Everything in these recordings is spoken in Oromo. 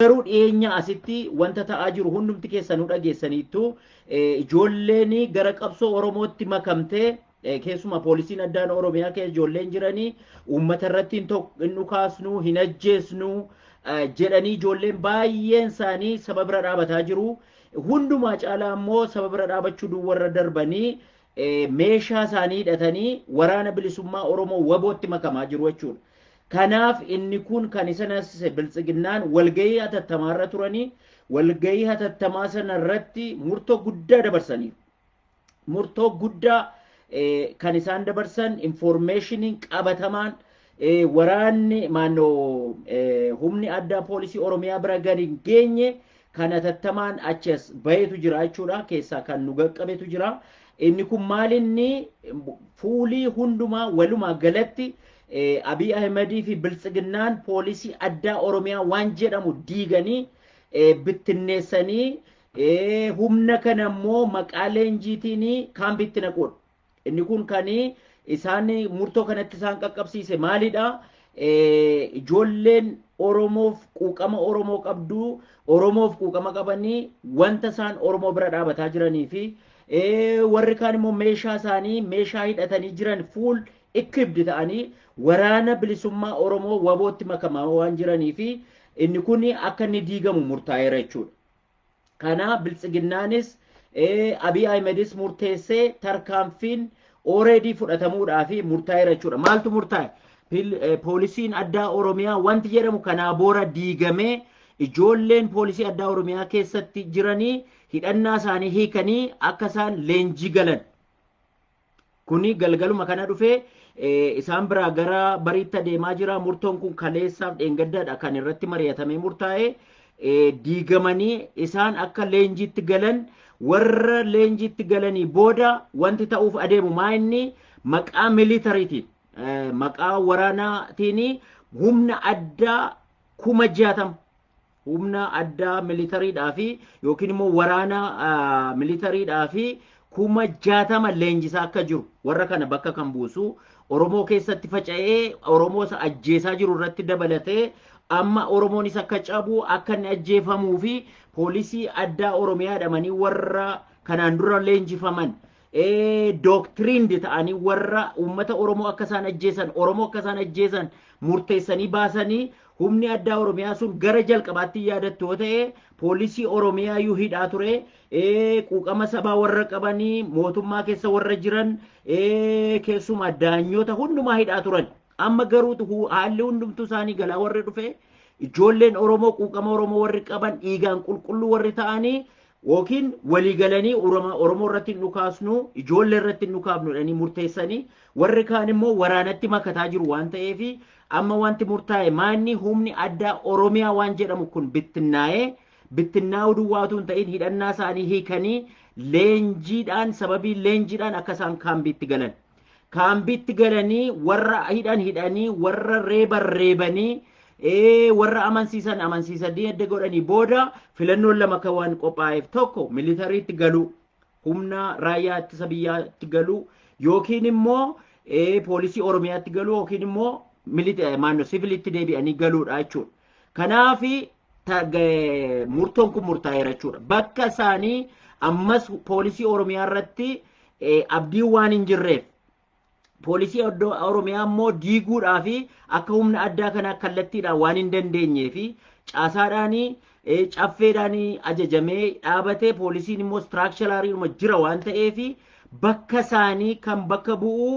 Garuu dhiyeenya asitti wanta ta'aa jiru hundumti keessanuu dhageessaniittu ijoolleen gara qabsoo Oromootti makamtee keessumaa poolisiin addaan Oromiyaa keessa ijoolleen jiranii uummata irratti hin dhukaasnu hin ajjeesnu jedhanii ijoolleen baay'een isaanii saba bira dhaabataa jiru. Hundumaa caalaa immoo saba bira dhaabachuu duwwarra darbanii meeshaa isaanii hidhatanii waraana bilisummaa Oromoo wabootti makamaa jiru jechuudha. Kanaaf inni kun kan isa naasise biltsiginnaan walgahii hatattamaa irra turanii walgahii hatattamaa sana irratti murtoo guddaa dabarsaniiru. Murtoo guddaa kan isaan dabarsan infoormeeshiniin qabatamaan waraanni maannoo humni addaa poolisii Oromiyaa bira gadi hin geenye kan hatattamaan achi as bahetu jira jechuudha. Keessaa kan nu qaqqabetu jira. Inni kun maalinni fuulii hundumaa walumaa galatti Abiy Ahimedii fi Biltsiginnaan poolisii addaa Oromiyaa waan jedhamu diiganii bittinneessanii humna kana immoo maqaa leenjiitiin kaampiitti naquudha. Inni kun kan isaan murtoo kanatti isaan qaqqabsiise maalidha? Ijoolleen Oromoof quuqama Oromoo qabdu Oromoof quuqama qabanii wanta isaan Oromoo bira dhaabataa jiranii fi warri kaan immoo meeshaa isaanii meeshaa hidhatanii jiran fuul equipped ta'anii waraana bilisummaa Oromoo wabootti makamaa waan jiranii fi inni kun akka inni diigamu murtaa'eera jechuudha. Kana biltsiginnaanis Abiy Ahimedis murteessee tarkaanfiin already fudhatamuudhaa fi murtaa'eera jechuudha. Maaltu murtaa'e? Poolisiin addaa Oromiyaa wanti jedhamu kanaa boora diigamee ijoolleen poolisii addaa Oromiyaa keessatti jiranii hidhannaa isaanii hiikanii akka isaan leenjii galan Kuni galgaluma kana dhufee isaan biraa gara bariitti adeemaa jira. Murtoon kun kaleessaaf dheengaddaadha kan irratti mari'atamee murtaa'e. Diigamanii isaan akka leenjiitti galan warra leenjiitti galanii booda wanti ta'uuf adeemu maa inni maqaa militariitiin maqaa waraanaatiin humna addaa kuma jaatama humna addaa militariidhaa fi yookiin immoo waraana militariidhaa fi kuma jaatama leenjisaa akka jiru warra kana bakka kan buusu Oromoo keessatti faca'ee Oromoo isa ajjeesaa jiru irratti dabalatee amma Oromoonis akka cabu akka inni ajjeefamuu fi poolisii addaa Oromiyaa jedhamanii warra kanaan dura leenjifaman doctrined ta'anii warra uummata Oromoo akka isaan ajjeesan, Oromoo akka isaan ajjeesan murteessanii baasanii humni addaa Oromiyaa sun gara jalqabaatti hin yaadattu yoo ta'e poolisii Oromiyaa iyyuu hidhaa ture eh, quuqama sabaa warra qabanii mootummaa keessa warra jiran eh, keessumaa daanyoota hundumaa hidhaa turan. Amma garuu hu- haalli hundumtuu isaanii galaa warri dhufe ijoolleen Oromoo quuqama Oromoo warri qaban dhiigaan qulqulluu warri ta'anii ykn walii galanii Oroma- Oromoo irratti hin dhukaasnu, ijoollee irratti hin dhukaafnu jedhanii murteessanii warri kaan immoo waraanatti makataa jiru waan ta'eef amma wanti murtaa'e maanni humni addaa Oromiyaa waan jedhamu kun bittinnaa'ee bittinnaa'uu duwwaatu hin ta'in hidhannaa isaanii hiikanii leenjiidhaan sababii leenjiidhaan akka isaan kaambiitti galan Kaambiitti galanii warra hidhan hidhanii warra reeban reebanii ee warra amansiisan amansiisanii edda godhanii booda filannoon lama akka waan qophaa'eef tokko militariitti galuu humna raayyaa ittisa biyyaatti galuu yookiin immoo ee poolisii oromiyaatti galuu yookiin immoo milita maanno sivilitti deebi'anii galuudha jechuudha. Kanaafi murtoon kun murtaa'eera jechuudha. Bakka isaanii ammas poolisii Oromiyaa irratti abdiin waan hin jirreef poolisii Oromiyaa immoo diiguudhaa fi akka humna addaa kanaa kallattiidhaan waan hin dandeenyee fi caasaadhaan caffeedhaan ajajamee dhaabatee poolisiin immoo istiraakshalaariidhuma jira waan ta'eef bakka isaanii kan bakka bu'u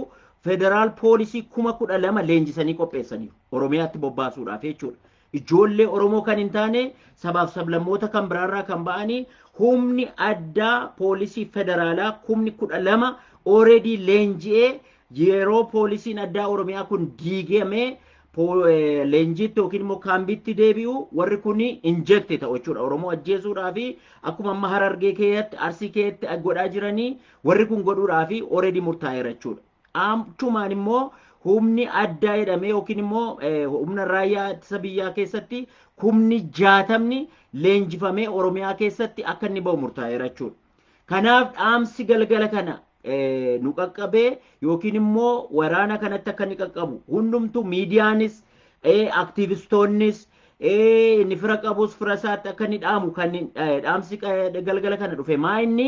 federaal poolisii kuma kudha lama leenjisanii qopheessaniiru Oromiyaatti bobbaasuudhaaf jechuudha. Ijoollee Oromoo kan hin taane sabaaf sablammoota kan biraarraa kan ba'anii humni addaa poolisii federaalaa kumni kudha lama already leenji'ee yeroo poolisiin addaa Oromiyaa kun diigamee leenjiitti yookiin immoo kaambiitti deebi'u warri kun injekti ta'u jechuudha. Oromoo ajjeesuudhaa fi akkuma amma harargee keessatti arsii keessatti godhaa jiranii warri kun godhuudhaa fi already murtaa'eera jechuudha. Achumaan immoo humni addaa jedhamee yookiin immoo humna raayyaa ittisa biyyaa keessatti kumni jaatamni leenjifamee Oromiyaa keessatti akka inni ba'u murtaa'eera jechuudha. Kanaaf dhaamsi galgala kana nu qaqqabee yookiin immoo waraana kanatti akka inni qaqqabu hundumtuu miidiyaanis aktiivistoonnis inni fira qabus fira isaatti akka inni dhaamu kan dhaamsi galgala kana dhufe maa inni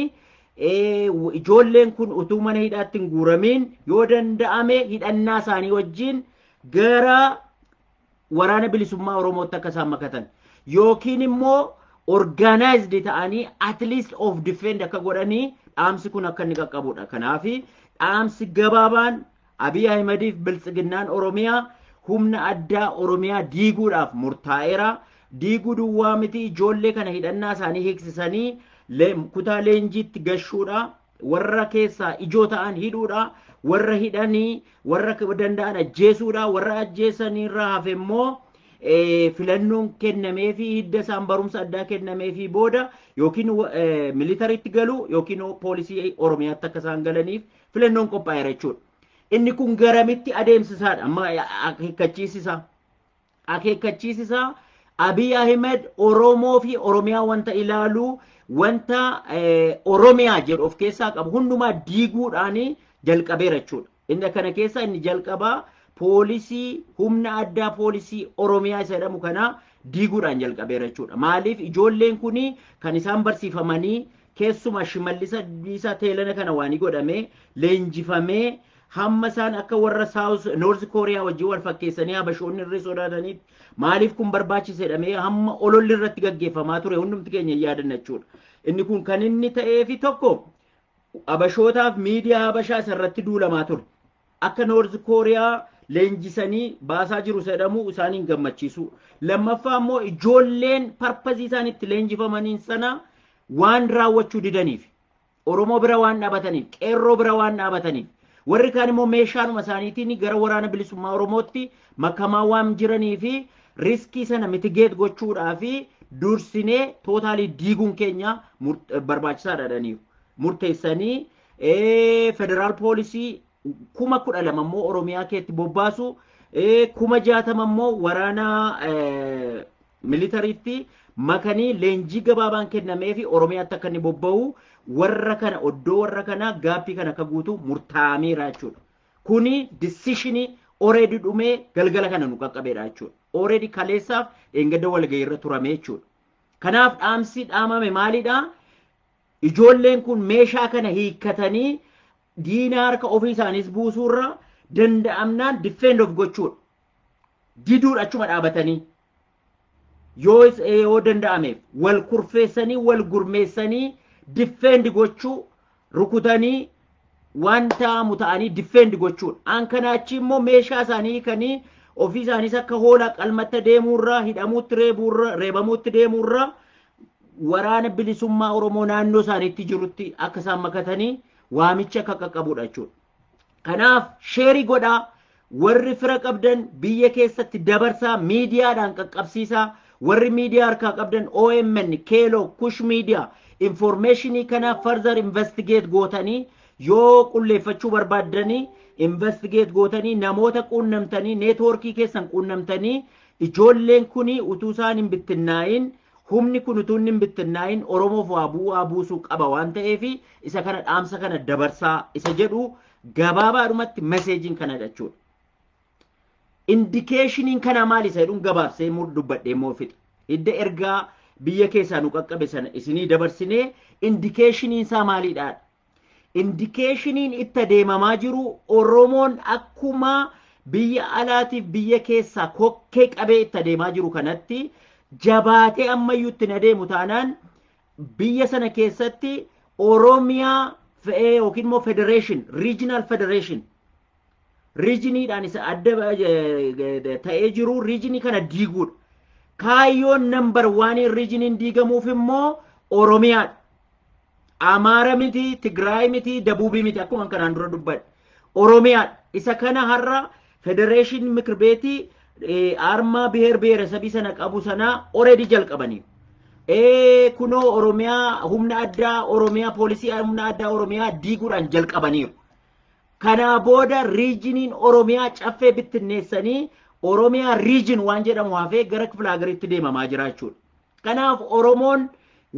ijoolleen kun utuu mana hidhaatti hin guuramiin yoo danda'ame hidhannaa isaanii wajjin gara waraana bilisummaa Oromootti akka isaan makatan yookiin immoo organized ta'anii at least of defend akka godhanii dhaamsi kun akka inni qaqqabudha. Kanaaf dhaamsi gabaabaan Abiy Ahimadiif Biltsiginnaan Oromiyaa humna addaa Oromiyaa diiguudhaaf murtaa'eera. Diiguu duwwaa miti ijoollee kana hidhannaa isaanii hiiksisanii kutaa leenjiitti gashuudha. Warra keessaa ijoo ta'an hidhuudha. Warra hidhanii warra danda'an ajjeesuudha. Warra ajjeesaniirra hafe immoo filannoon kennamee fi hidda isaan barumsa addaa kennamee fi booda yookiin militariitti galu yookiin poolisii Oromiyaatti akka isaan galaniif filannoon qophaa'eera jechuudha. Inni kun garamitti adeemsisaadha amma akeekkachiisisaa. Akeekkachiisisaa Abiy Ahmed Oromoo fi Oromiyaa wanta ilaalu wanta Oromiyaa jedhu of keessaa qabu hundumaa diiguudhaan jalqabeera jechuudha. Inni kana keessaa inni jalqabaa poolisii humna addaa poolisii Oromiyaa isa jedhamu kana diiguudhaan jalqabeera jechuudha. Maaliif ijoolleen kun kan isaan barsiifamanii keessumaa Shimallis Abdiisaa teelana kana waanii godhamee leenjifamee hamma isaan akka warra South North Korea wajjin wal fakkeessanii habashoonni irree sodaataniif maaliif kun barbaachisedhamee hamma ololli irratti gaggeeffamaa ture hundumti keenya hin yaadanna jechuudha. Inni kun kan inni ta'eefi tokko habashootaaf miidiyaa habashaa isa irratti duulamaa ture. Akka Noorz Kooriyaa leenjisanii baasaa jiru jedhamu isaan hin gammachiisu. Lammaffaa immoo ijoolleen parpazii isaan itti leenjifamaniin sana waan raawwachuu didaniif. Oromoo bira waan dhaabataniif, qeerroo bira waan dhaabataniif. Warri kaan immoo meeshaanuma isaaniitiin gara waraana bilisummaa Oromootti makamaa waan jiranii fi riskii sana mitigeet gochuudhaa fi dursinee tootaalii diiguun keenya barbaachisaadha jedhaniiru. Murteessanii ee, federaal poolisii kuma kudha lama immoo Oromiyaa keetti bobbaasu, ee, kuma jaatama immoo waraana ee, militariitti makanii leenjii gabaabaan kennamee fi Oromiyaatti akka inni bobba'u warra kana oddoo warra kana gaaffii kana akka guutu murtaa'ameera jechuudha. Kuni disishinii oreedi dhumee galgala kana nu qaqqabeedha jechuudha. Oreedi kaleessaaf dheengadda walga'iirra turame jechuudha. Kanaaf dhaamsi dhaamame maalidha? Ijoolleen kun meeshaa kana hiikkatanii diina harka ofii isaaniis buusuurra danda'amnaan defend of gochuudha. Diduudha achuma dhaabatanii. Yoo is- eh, yoo danda'ameef wal kurfeessanii wal gurmeessanii defend gochuu rukutanii waan ta'amu ta'anii difeend gochuudha. Aan kanaa achi immoo meeshaa isaanii hiikanii ofii isaaniis akka hoolaa qalmatta deemuurraa hidhamuutti reebuurra reebamuutti deemuurraa waraana bilisummaa Oromoo naannoo isaaniitti jirutti akka isaan makatanii waamicha akka qaqqabudha jechuudha. Kanaaf sheerii godhaa warri fira qabdan biyya keessatti dabarsaa miidiyaadhaan qaqqabsiisaa warri miidiyaa harkaa qabdan OMN, Keeloo, Kush Miidiyaa informeeshinii kana further investigate gootanii yoo qulleeffachuu barbaaddanii investigate gootanii namoota quunnamtanii neetwoorkii keessan quunnamtanii ijoolleen kuni utuu isaan hin bittinnaa'iin humni kun utuu inni hin bittinnaa'iin Oromoof waa bu'aa buusuu qaba waan ta'eef isa kana dhaamsa kana dabarsaa isa jedhu Gabaabaadhumatti meseejiin kana jechuudha. Indikeeshiniin kanaa maali isa jedhuun gabaabsee immoo dubbadhee immoo fixe. Hidda ergaa biyya keessaa nu qaqqabe sana isinii dabarsinee indikeeshiniin isaa maalidha? Indikeeshiniin itti adeemamaa jiru Oromoon akkuma biyya alaatiif biyya keessaa kokkee qabee itti adeemaa jiru kanatti jabaatee ammayyuu itti adeemu taanaan biyya sana keessatti Oromiyaa fe'ee yookiin immoo federation, regional federation riijiniidhaan isa adda eh, ta'ee jiru riijinii kana diiguudha. Kaayyoon nambar waaniin riijiniin diigamuuf immoo Oromiyaadha. Amaara miti, Tigraay miti, Dabuubii miti akkuma kanaan dura dubbadhe. Oromiyaadha. Isa kana har'a federeeshin mikir beetii armaa biheer biheeresabii sana qabu sanaa already jalqabanii. Kunoo Oromiyaa humna addaa Oromiyaa poolisii humna addaa Oromiyaa diiguudhaan jalqabaniiru. Kanaa booda riijiniin Oromiyaa caffee bittinneessanii Oromiyaa riijin waan jedhamu hafee gara kifila hagariitti deemamaa jira jechuudha. Kanaaf Oromoon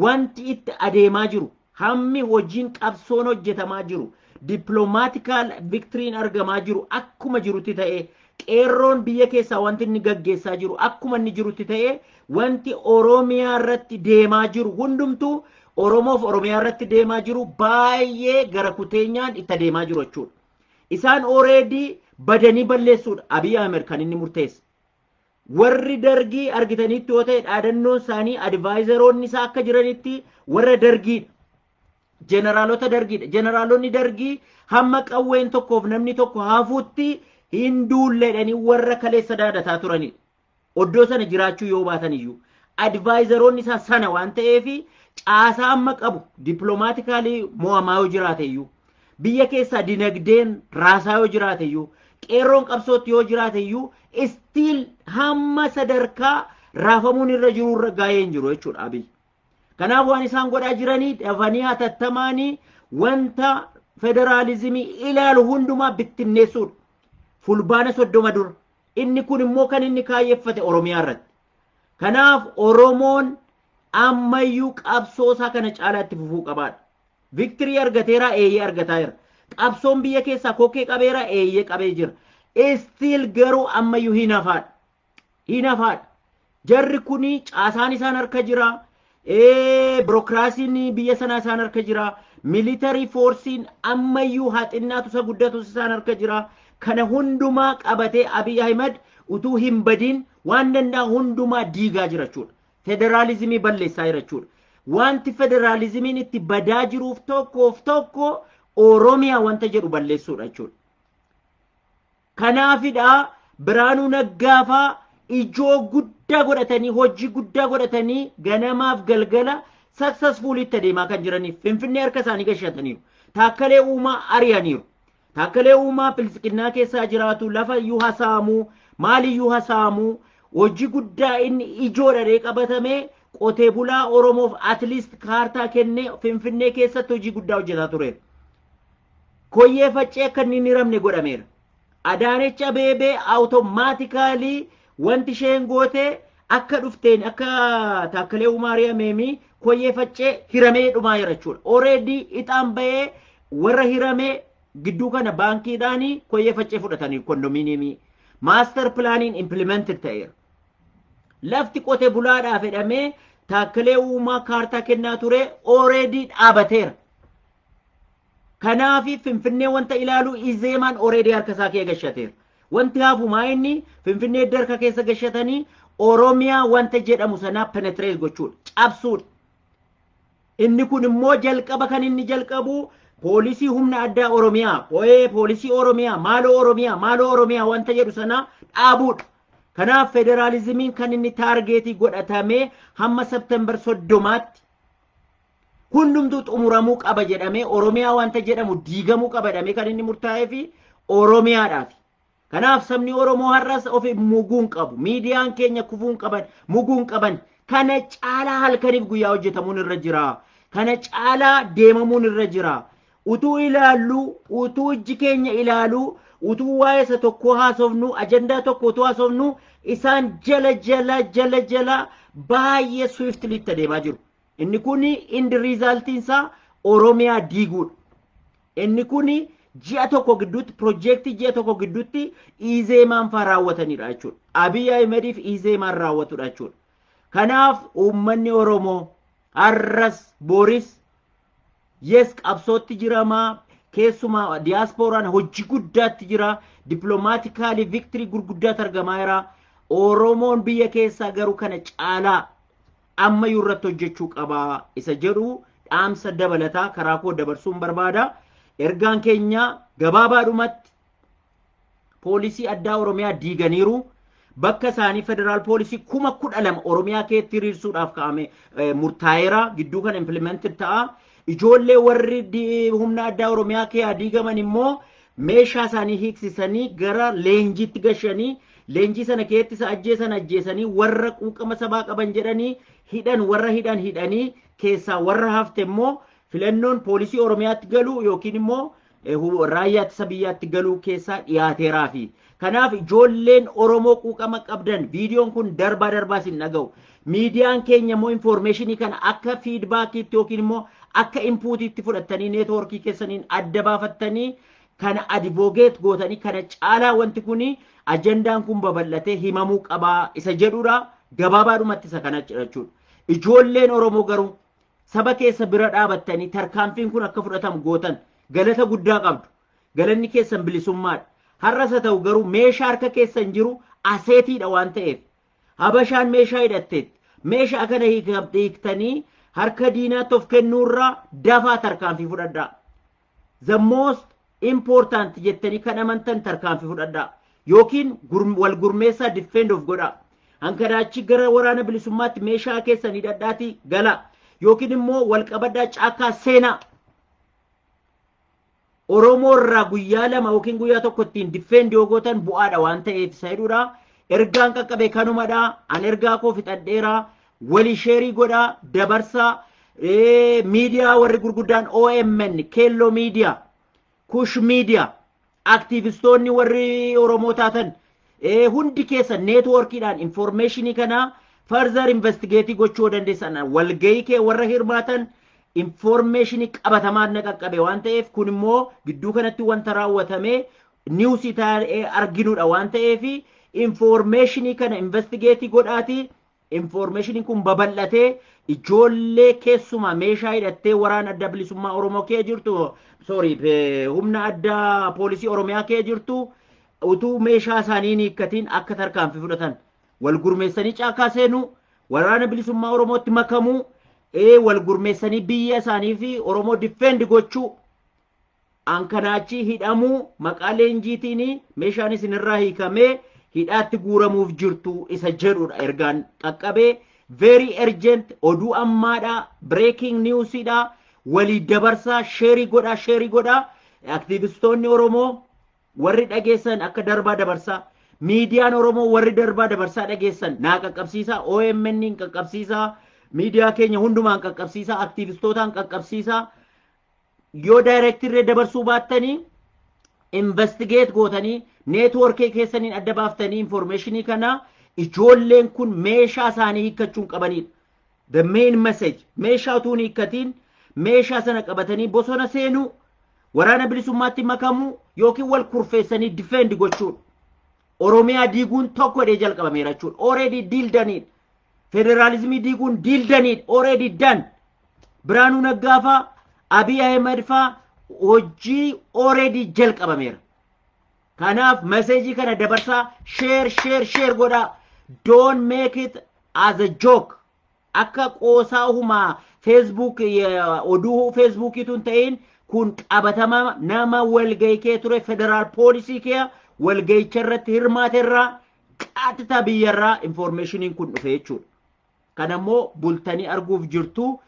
wanti itti adeemaa jiru, hammi hojiin qabsoon hojjetamaa jiru, diplomaatical victory'n argamaa jiru akkuma jirutti ta'ee, qeerroon biyya keessaa wanti inni gaggeessaa jiru akkuma inni jirutti ta'ee, wanti Oromiyaa irratti deemaa jiru hundumtuu Oromoof Oromiyaa irratti deemaa jiru baay'ee gara kuteenyaan itti adeemaa jiru jechuudha. Isaan already badanii balleessuudha Abiy Ahmed kan inni murteesse. warri dargii argitaniitti yoo ta'e dhaadannoon isaanii advaayizaroonni isaa akka jiranitti warra dargiidha. Jeneraalota dargiidha. Jeneraalonni dargii hamma qawween tokkoof namni tokko hafuutti hin duulleedhanii warra kaleessa daadataa turanidha. Oddoo sana jiraachuu yoo baatan iyyuu. Advaayizaroonni isaa sana waan ta'eef caasaa amma qabu dippiloomaatikaali mo'amaa yoo jiraate iyyuu. Biyya keessaa dinagdeen raasaa yoo jiraate iyyuu qeerroon qabsootti yoo jiraate iyyuu istiil hamma sadarkaa raafamuun irra jiru irra gaa'ee hin jiru jechuudha Abiy. Kanaaf waan isaan godhaa jiranii dafanii hatattamaanii wanta federaalizimii ilaalu hundumaa bittinneessuudha. Fulbaana soddoma dura. Inni kun immoo kan inni kaayyeffate Oromiyaa irratti. Kanaaf Oromoon ammayyuu qabsoosaa kana caalaatti fufuu qabaadha. Victory argateeraa? Eeyyee argataa jira. Qabsoon biyya keessaa kokkee qabeeraa? Eeyyee qabee jira. Still garuu ammayyuu hin hafaadha. Hin hafaadha. Jarri kuni caasaan isaan harka jira. Birokiraasiin biyya sanaa isaan harka jira. Militarii foorsiin ammayyuu haa xinnaatu isa guddatus isaan harka jira. Kana hundumaa qabatee Abiy Ahimad utuu hin badiin waan danda'a hundumaa diigaa jira jechuudha. Federaalizimii balleessaa jira jechuudha. Wanti federaalizimiin itti badaa jiruuf tokkoof tokko Oromiyaa wanta jedhu balleessuudha jechuudha. Kanaafidha Biraanuu Naggaafaa ijoo guddaa godhatanii hojii guddaa godhatanii ganamaaf galgala saksasfuulii itti adeemaa kan jiraniif Finfinnee harka isaanii gashataniiru. Taakkalee Uumaa ari'aniiru. Taakkalee Uumaa Biltsiginnaa keessaa jiraatu lafa iyyuu ha saamu, maal iyyuu ha saamu, hojii guddaa inni ijoodha ree qabatame qotee bulaa Oromoof at least kaartaa kennee Finfinnee keessatti hojii guddaa hojjetaa tureera. Koyyee faccee akka inni hin hiramne godhameera. Adaanech Abeebee awutomaatikaalii wanti isheen goote akka dhufteen akka Taakkalee Uumaa ari'ameemi koyyee faccee hiramee dhumaa jira jechuudha. Oreedii ixaan bahee warra hiramee gidduu kana baankiidhaan koyyee faccee fudhatanii kondominiyeemii maaster pilaaniin impilimented ta'eera. Lafti qote bulaadhaa fedhamee taakkalee uumaa kaartaa kennaa ture ooreedii dhaabateera. Kanaafi Finfinnee wanta ilaalu izeemaan ooreedii harka isaa kee gashateera. Wanti hafumaa inni Finfinnee edda harka keessa gashatanii Oromiyaa wanta jedhamu sanaa penetrees gochuudha. Cabsuudha. Inni kun immoo jalqaba kan inni jalqabu poolisii humna addaa Oromiyaa, ooyee poolisii Oromiyaa, maaloo Oromiyaa, maaloo Oromiyaa wanta jedhu sana dhaabuudha. Kanaaf federaalizimiin kan inni taargeetii godhatamee hamma September soddomaatti hundumtuu xumuramuu qaba jedhamee Oromiyaa wanta jedhamu diigamuu qaba jedhamee kan inni murtaa'ee fi Oromiyaadhaaf. Kanaaf sabni Oromoo har'as of muguu hin qabu. Miidiyaan keenya kufuu hin qaban, muguu hin qaban. Kana caalaa halkaniif guyyaa hojjetamuun irra jira. Kana caalaa deemamuun irra jira. Utuu ilaallu, utuu ijji keenya ilaalu, utuu waa'ee isa tokkoo haasofnu, ajandaa tokko utuu haasofnu, isaan jala jala jala jala baay'ee swiftly itti adeemaa jiru. Inni kun indi riizaaltiin isaa Oromiyaa diiguudha. Inni kun ji'a tokko gidduutti piroojeektii ji'a tokko gidduutti Izeemaan faa raawwatanidha jechuudha. Abiy Ahimediif Izeemaan raawwatudha jechuudha. Kanaaf uummanni Oromoo har'as booris yes qabsootti jiramaa keessumaa diyaaspooraan hojii guddaatti jira dippiloomaatikaali viktirii gurguddaatti argamaa jira oromoon biyya keessaa garuu kana caalaa ammayyuu irratti hojjechuu qaba isa jedhu dhaamsa dabalataa karaa koo dabarsuun barbaada. Ergaan keenya gabaabaadhumatti poolisii addaa Oromiyaa diiganiiru. Bakka isaanii federaal poolisii kuma kudha lama Oromiyaa keetti hiriirsuudhaaf kaa'ame murtaa'eera. Gidduu kana implemented ta'a. Ijoollee warri humna addaa Oromiyaa keessaa diigaman immoo meeshaa isaanii hiiksisanii gara leenjiitti gashanii leenjii sana keessatti isa ajjeesan ajjeesanii warra quuqama sabaa qaban jedhanii hidhan warra hidhan hidhanii keessaa warra hafte immoo filannoon poolisii Oromiyaatti galuu yookiin immoo raayyaa ittisa biyyaatti galuu keessaa dhiyaateeraafi. Kanaaf ijoolleen Oromoo quuqama qabdan viidiyoon kun darbaa darbaa isin dhaga'u. Miidiyaan keenya immoo infoormeeshinii kana akka fiidbaakiitti yookiin immoo akka inpuutiitti fudhattanii neetwoorkii keessaniin adda baafattanii kana adivoogeet gootanii kana caalaa wanti kun ajandaan kun babal'atee himamuu qabaa isa jedhudha. Gabaabaadhumatti isa kana jechuudha. Ijoolleen Oromoo garuu saba keessa bira dhaabattanii tarkaanfiin kun akka fudhatamu gootan galata guddaa qabdu. Galanni keessan bilisummaadha. Har'as haa ta'u garuu meeshaa harka keessan jiru aseetiidha waan ta'eef. Habashaan meeshaa hidhatteetti. Meeshaa kana hiiktanii harka diinaatti of kennuurraa dafaa tarkaanfii fudhadhaa. the most important jettanii kan amantan tarkaanfii fudhadhaa yookiin gur- wal gurmeessaa defend of godhaa hankanaa achi gara waraana bilisummaatti meeshaa keessan hidhadhaatii galaa yookiin immoo wal qabadhaa caakkaa seenaa Oromoo irraa guyyaa lama yookiin guyyaa tokko ittiin defend yoo gootan bu'aadha waan ta'eef isa jedhudha. Ergaan qaqqabe kanumadha. An ergaa koo fixadheera. Wali sheerii godhaa dabarsaa ee, miidiyaa warri gurguddaan OMN, Keelloo miidiyaa, Kush miidiyaa, aktiivistoonni warri Oromoo taatan ee, hundi keessan neetwoorkiidhaan informeeshinii kana further investigeetii gochuu yoo dandeessan walgahii kee warra hirmaatan informeeshinii qabatamaa na qaqqabe waan ta'eef kun immoo gidduu kanatti wanta raawwatame niwusii taa'ee arginudha waan ta'eef informeeshinii kana investigeetii godhaatii Infoormeeshiniin kun babal'atee ijoollee keessumaa meeshaa hidhattee waraana adda bilisummaa Oromoo kee jirtu sorry humna addaa poolisii Oromiyaa kee jirtu utuu meeshaa isaanii hin hiikkatiin akka tarkaanfii fudhatan wal gurmeessanii caakaa seenuu waraana bilisummaa Oromootti makamuu ee wal gurmeessanii biyya isaanii fi Oromoo difeendi gochuu an kana achii hidhamuu maqaa leenjiitiin meeshaan isinirraa hiikamee hidhaatti guuramuuf jirtu isa jedhudha ergaan qaqqabee very urgent oduu ammaadha breaking newsidha walii dabarsaa sheerii godhaa sheerii godhaa aktiivistoonni oromoo warri dhageessan akka darbaa dabarsaa miidiyaan oromoo warri darbaa dabarsaa dhageessan naa qaqqabsiisaa omn qaqqabsiisaa miidiyaa keenya hundumaan qaqqabsiisaa aktiivistootaan qaqqabsiisaa yoo daayirektirree dabarsuu baattanii investigeet gootanii neetwoorkii keessaniin adda baaftanii informeeshinii kana ijoolleen kun meeshaa isaanii hiikkachuun qabanidha. The main message meeshaa utuu hin hiikkatiin meeshaa sana qabatanii bosona seenuu waraana bilisummaatti makamuu yookiin wal kurfeessanii difeendi gochuudha. Oromiyaa diiguun tokko jedhee jalqabameera jechuudha. Already diildaniidha. Federaalizimii diiguun diildaniidha. Already done. Biraanuu Naggaa faa Abiy Ahimad faa hojii already jalqabameera. Kanaaf meseejii kana dabarsaa share share share godhaa. Don't make it as a joke. Akka qoosaa humaa Facebook oduu Facebookiitu hin ta'in kun qabatama nama walgahii kee ture federaal poolisii kee walgahicha irratti hirmaaterraa qaxita biyyarraa informeeshiniin kun dhufe jechuudha. Kana immoo bultanii arguuf jirtu.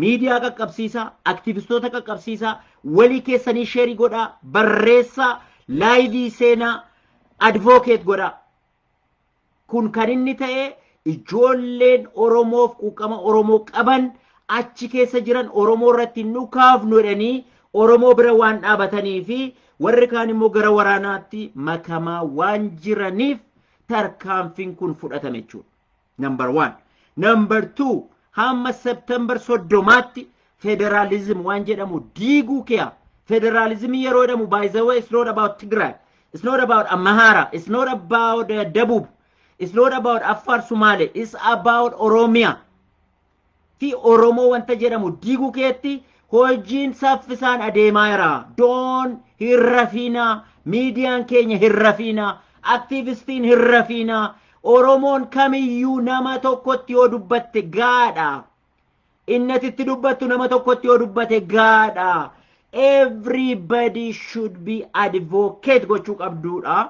Miidiyaa qaqqabsiisaa, aktivistoota qaqqabsiisaa, walii keessanii sheerii godhaa, barreessaa, laayivii seenaa, advookeet godhaa. Kun kan inni ta'e ijoolleen Oromoof quuqama Oromoo qaban achi keessa jiran Oromoo irratti hin dhukaafnu jedhanii Oromoo bira waan dhaabatanii fi warri kaan immoo gara waraanaatti makamaa waan jiraniif tarkaanfiin kun fudhatame jechuudha. Number one. Number two. Hamma September soddomaatti federaalizim waan jedhamu diiguu kiya. Federaalizimii yeroo jedhamu by the way it's not about Tigray. It's not about Amhara. It's not about uh, Dabub. It's not about Afar Somali. It's about Oromia. fi Oromoo wanta jedhamu diiguu keetti hojiin saffisaan adeemaa jira. Doon hin rafiina, miidiyaan keenya hin rafiina, aktiivistiin hin rafiina. Oromoon kamiyyuu nama tokkotti yoo dubbatte gaadha. Inni ati itti dubbattu nama tokkotti yoo dubbate gaadha. Everybody should be advocate gochuu qabduudha.